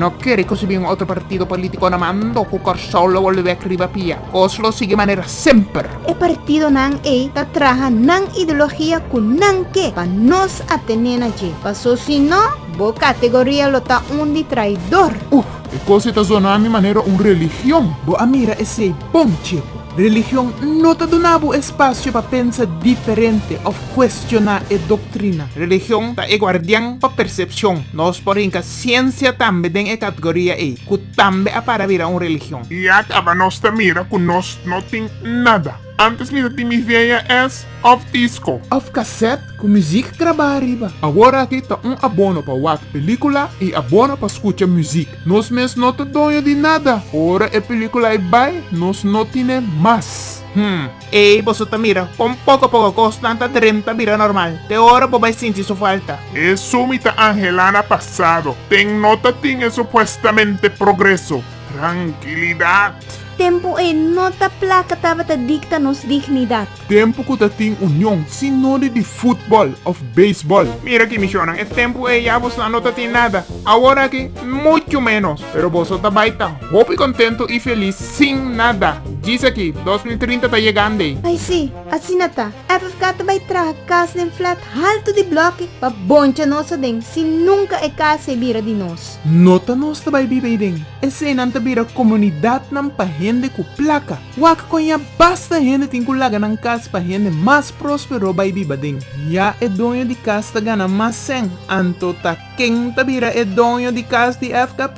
No kere ku si bin otro partido polítiko na mando ku Kòrsou lo bolebek riba pia. Kos lo sigui manera semper. E partidonan ei ta traha nan ideologia ku nan ke pa nos a tene na dje. Paso si no, bo kategoria lo ta un di traidor. Uh! E kos ei ta zona mi manera un religion. Bo a mira esei bon, tjie. Religion no ta duna bo espacio pa pensa diferente of cuestiona e doctrina. Religion ta e guardian pa percepcion. Nos por hinca ciencia tambe den e catgoria ey, cu tambe a para bira un religion. Y a caba nos ta mira cu nos no tin nada. Antes mi ta tin mi VHS of disco. Of cassette cu muziek graba ariba. Awor aki ta un abono pa wak pelicula y abono pa scucha muziek. Nos mes no ta doño di nada. Ora e película ei bai, nos no tine mas. Hm. Ey, boso ta mira con poco poco cosnan ta drem ta bira normal. Te ora bo bay sinti su falta. Eso mi ta Angela na pasado. Ten no ta tin e supuestamente progreso. Tranquilidad. Tempo ey no ta placa tabata dicta nos dignidad. Tempu ku ta tin union, si no di di futbòl òf beisbòl. Mira aki, mishónan, e tempu ei ya boso no ta tin nada. Awor aki, muchu ménos. Pero boso ta bai ta hopi kontentu i felis sin nada. Djis aki, dos mil trinta ta yegand'ei. Ai sí, asina ta. FFK ta bai traha kas den flat haltu di blòke pa boncha nos aden, si nunka e kas ei bira di nos. Nota nos ta bai biba ei den. Eseinan ta bira komunidatnan pa hende ku plaka. Wak kon ya basta hende tin ku laga nan kas pa hende mas próspero bai biba den. Ya e doño di kas ta gana mas sèn, anto ta ken ta bira e doño di kas di FKP?